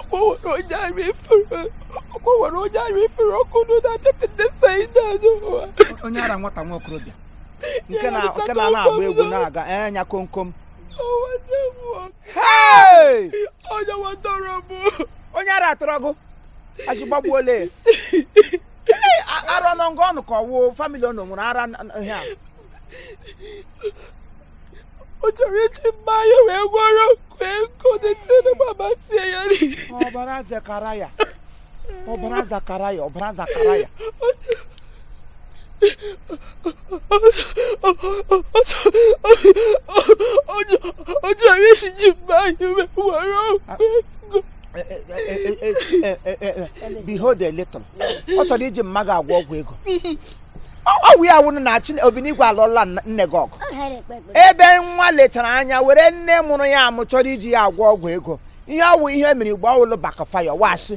ọkwa nwere onye ara efere ọkwa nwere onye ara efere ọkụ nụ na-abịa pete saịda n'ụwa onye ara nwata nwa okorobịa nke na nke na na-agba egwu na-aga anya komkom ọwa nne m nwoke Hey! onye nwatọrọ m onye ara atọrọ gị achịgbagbuole ara ọnụ ngụ ọnụ ka ọwụ family unu nwere ara n- n- ihe a ọ chọrọ iji mma ya wee gwọrọ wee kodete na mama sị ya ọbara zakaraya ọbara zakaraya ọbara zakaraya ọ chọrọ iji ji mma ya wee gwọrọ behold a little ọ chọrọ iji mma gị agwọ ọgwụ ego ọwụ ya wụrụ na chi obinigwe alụọla nne gị ọgụ ebe nwa lechara anya were nne mụrụ ya amụ chọrọ iji ya agwọ ọgwụ ego ihe ọwụ ihe mere igbo ọwụla backfire wee sị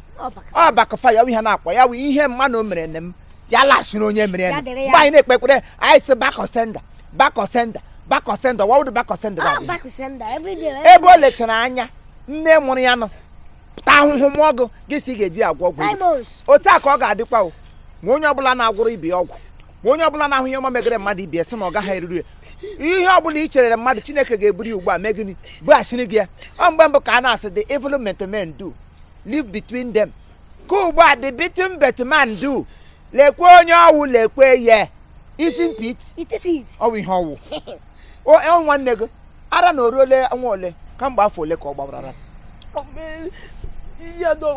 ọ backfire ihe a na-akpọ ya wụ ihe mmanụ mere nne m ya lasịrị onye mere ya mgbe anyị na-ekpe ekpere anyị sị back to sender back to sender back to sender wawụdụ back to sender ebe o lechara anya nne mụrụ ya nọ ta ahụhụ mụọ gị gị sị ị ga-eji agwọ ọgwụ otu a ka ọ ga-adịkwa o ma onye ọbụla na-agwọrọ ibe ya ọgwụ ma onye ọbụla na-ahụ ihe ọma megere mmadụ ibe sị na ọ gaghị eruru ya ihe ọbụla i cheere mmadụ chineke ga-eburu ya ugbu a mee gịnị bughachiri gị ya ọ mgbe mbụ ka a na-asị the evil that men do live between them ka ugbu a the beaten but man do lekwe onye ọwụ lekwe ya itin pit ọwụ ihe ọwụ ọ nwanne gị ara na oruole ọnwa ole kamgbe afọ ole ka ọ gbawarara ya na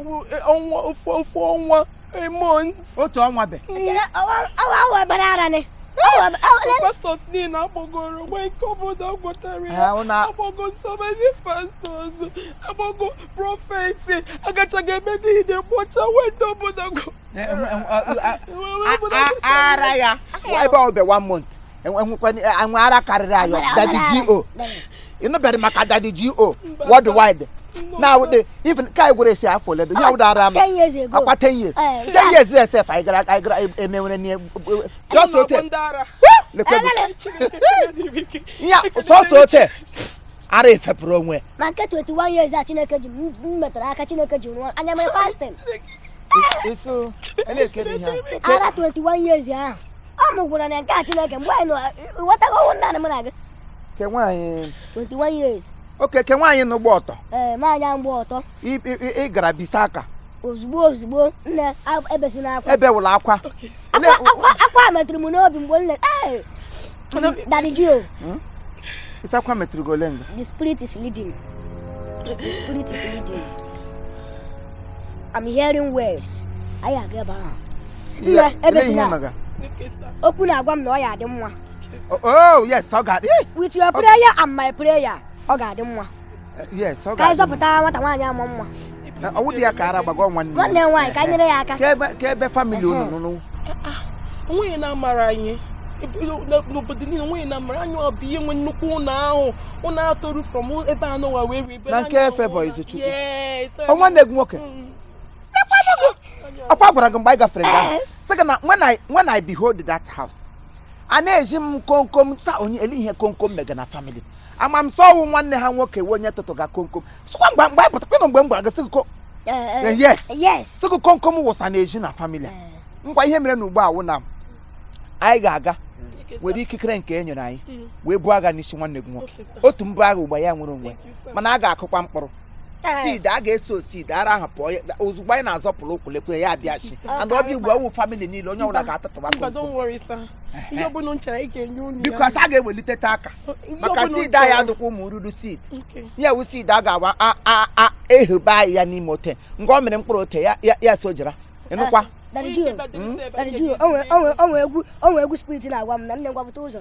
ọnwa ofu ofu ọnwa a month otu ọnwa be pastors niile agbagoro nwa ike obodo agwọtara ya agbago so many pastors agbago prophets agachago ebe niile kpọcha weta obodo ara ya ebe ọ bụ one month enwe ara karịrị ayọ daddy G.O ị nụbeghị maka daddy G.O worldwide now the even kai gwere esi afọ ole ya wụda ara m ọkwa 10 years 10 years yes sir anyị gara anyị gara emewere ne just ote lekwe ya sọsọ ote ara efepụrụ onwe ma nke 21 years a chineke ji m metara aka chineke ji rụọ anya mere fasting eso elekere ihe ara 21 years ahụ ọ mụgwara na nke a chineke mgbe anyị ghọtago ọnwụ nna m na gị ke nwaanyị 21 years okay ke nwaanyị nọ gba ọtọ ee eh, nwaanyị ahụ gba ọtọ ị gara bisa aka ozugbo ozugbo nne ebesila akwa ebewela akwa akwa metụrụ m n'obi mgbe nne Daddy G.O. Hmm? Is that Kwame Trigolenga? The spirit is leading. The spirit is leading. I'm hearing words. I agree about her. Yeah, everything. Okwu na-agwa m na ọ ya-adị mma. Oh, oh yes, ọ ga-adị. With your prayer and my prayer, ọ ga-adị mma. yes ọ ga-adị mma. ka anyị zọpụta nwata nwaanyị ama mma Eh, ọ wụ di ya ka ara gbagọ nwanne ya. nwanne m nwaanyị ka anyị nyere ya aka Ka ebe- ka ebe family unu nọ onweghị na-amara anyị Ebe- na- n'obodo niile onweghị na-amara anyị ọ bụ anyị nwe nnukwu ụlọ ahụ ụlọ atọru from ebe a nọwa wee ribe Na nke efe bụ Izechukwu. Ọ nwanne gị nwoke ọkwa gwara gị mgbe anyị gafere nga ahụ. sị gị na when I- when I behold that house a na-ezi m komkom sa onye ele ihe komkom mega na family ama m sị ọ wụ nwanne ha nwoke wụ onye tụtụga komkom sịkwa mgbe mgbe anyị pụtakwanụ mgbe m gwara gị sị gị ko Eh, eh, yes yes sị gị komkom wụsa n'ezi na family a. Eh, ngwa ihe mere na ugbu a wụ na anyị ga-aga were ikikere nke e nyere anyị wee buo agha n'isi nwanne gị nwoke otu m bu agha ugbu a ya nwere onwe mana a ga-akụkwa mkpụrụ seed a ga-eso seed ara ahụ pụọ ozugbo anyị na-azọpụrụ ụkwụ lekwe ya abịachi and ọ bịa ugbu a ọ wụ family niile onye ọbụla ga-atụtụba because a ga-eweliteta aka maka seed anyị adụkwa ụmụ ruru seed ya wụ seed a ga-awa ehebe anyị ya n'ime ote nke ọ mere mkpụrụ ote ya sojara ịnụkwa o nwe egwu spirit na-agwa m na nne m gwapụta ụzọ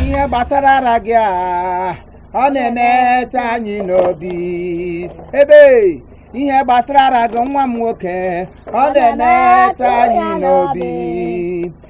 ihe gbasara ara gị a ọ na-emetụ anyị n'obi ebe ihe gbasara ara gị nwa m nwoke ọ na-emetụ anyị n'obi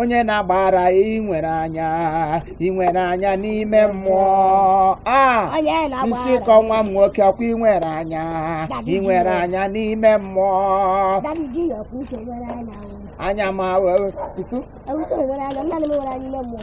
onye na-agba ara ị nwere anya ị nwere anya n'ime mmụọ a onye nsị na-agba ara kọ nwa m nwoke ọkwa ị nwere anya ị nwere anya n'ime mmụọ Daddy G.O ọkwa uso nwere anya o. anya ma wee kwụsị Ewuso nwere anya nna m nwere anya ime mmụọ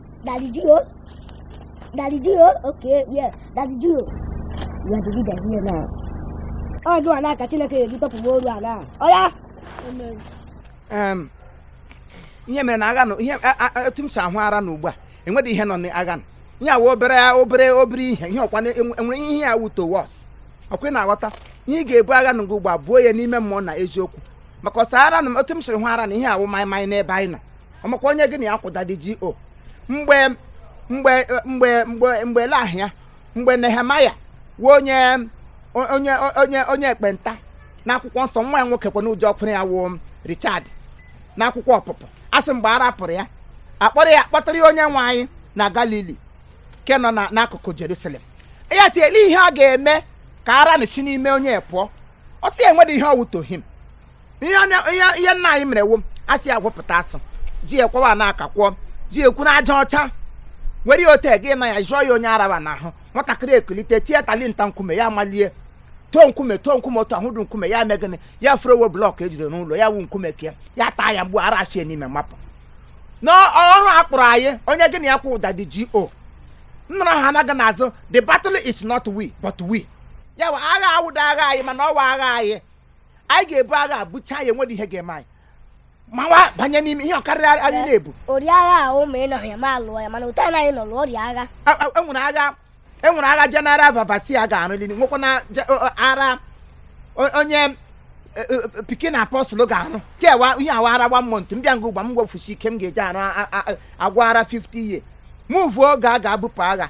Daddy G.O. Daddy G.O. Okay, yeah. Daddy G.O. You are the leader here now. Ọ gị nwana ka Chineke ga-eji tọpụ mmụọ ara a. Oya. Em, ihe mere na agha nọ ihe a- a- etu m si ahụ ara na ugbu a enweghị ihe nọ n'agha nọ ya wụ obere obere obere ihe ihe ọkwa na- enwe- enwere ihe ya wuto wọs ọkwa ị na-aghọta ihe ị ga-ebu agha nọ ugbu a buo ya n'ime mmụọ na eziokwu maka ọsọ ara na m- otu m siri hụ ara na ihe awụ maịmaị n'ebe anyị nọ ọmakwa onye gị na ya kwụ Daddy GO mgbe mgbe mgbe mgbe mgbe lahịa mgbe Nehemaya wụ onye onye onye onye ekpenta n'akwụkwọ nsọ nwa ya nwoke kwa n'ụjọ ọkwụrụ ya wụ Richard n'akwụkwọ ọpụpụ a sị mgbe ara pụrụ ya akpọrọ ya akpọtara ya onye nwe anyị na Galili nke nọ na- n'akụkụ Jerusalem ya sị ya lee ihe ọ ga-eme ka ara nụ shi n'ime onye pụọ ọ sị enwedị ihe ọwụtoghị m ihe nna anyị mere wụ a sị ya gbụpụta asụ ji ekwewa na aka kwụọ ji ekwu na aja ọcha were ote gị na ya jụọ ya onye araba n'ahụ nwatakịrị ekulite tie talinta nkume ya malie too nkume too nkume otu ahụ dụ nkume ya mee gịnị ya furowo blọk ejide n'ụlọ ya wụ nkume kee ya taa ya mgbu ara achie n'ime mapụ n'ọrụ a kpụrụ anyị onye gị na ya kwụ wụ Daddy GO nnọrọ ha anaghị n'azụ the battle is not we but we ya agha awụdị agha anyị mana ọ wụ agha anyị anyị ga-ebu agha a buchaa ya enwedị ihe ga-eme anyị mawa banye n'ime ihe ọ karịrị agha ị na-ebu ori agha a ụmụ ị nọghị ya ma lụọ ya mana ụta anaghị nọ lụọ ọrịa agha A- a- enwere agha enwere agha General Overseer ga-arụli nwekwa na je- ọ- ọ- ara o- onye e, e, e, pikin apọstụl ga-arụ kewa ihe a wụ ara one month m bịa nga ugbu a m wefusi ike m ga-eji arụ a- a- a- agwọ ara 50 years mụvuo oge a ga-ebupụ agha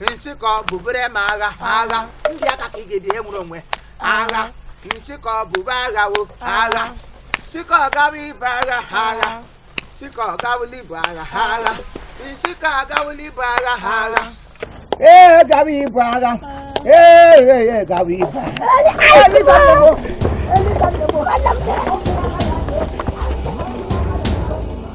nchịkọ bubere m agha agha ndị aka ka ị ga-ebi ihe nwere onwe agha nchịkọ bube agha wo agha chịkọ gawa ibu agha ha agha chịkọ gawụla ibu agha ha agha nchịkọ agawụla ibu agha ha agha ee gawa ibu agha ee ee ee gawa ibu agha Thank you.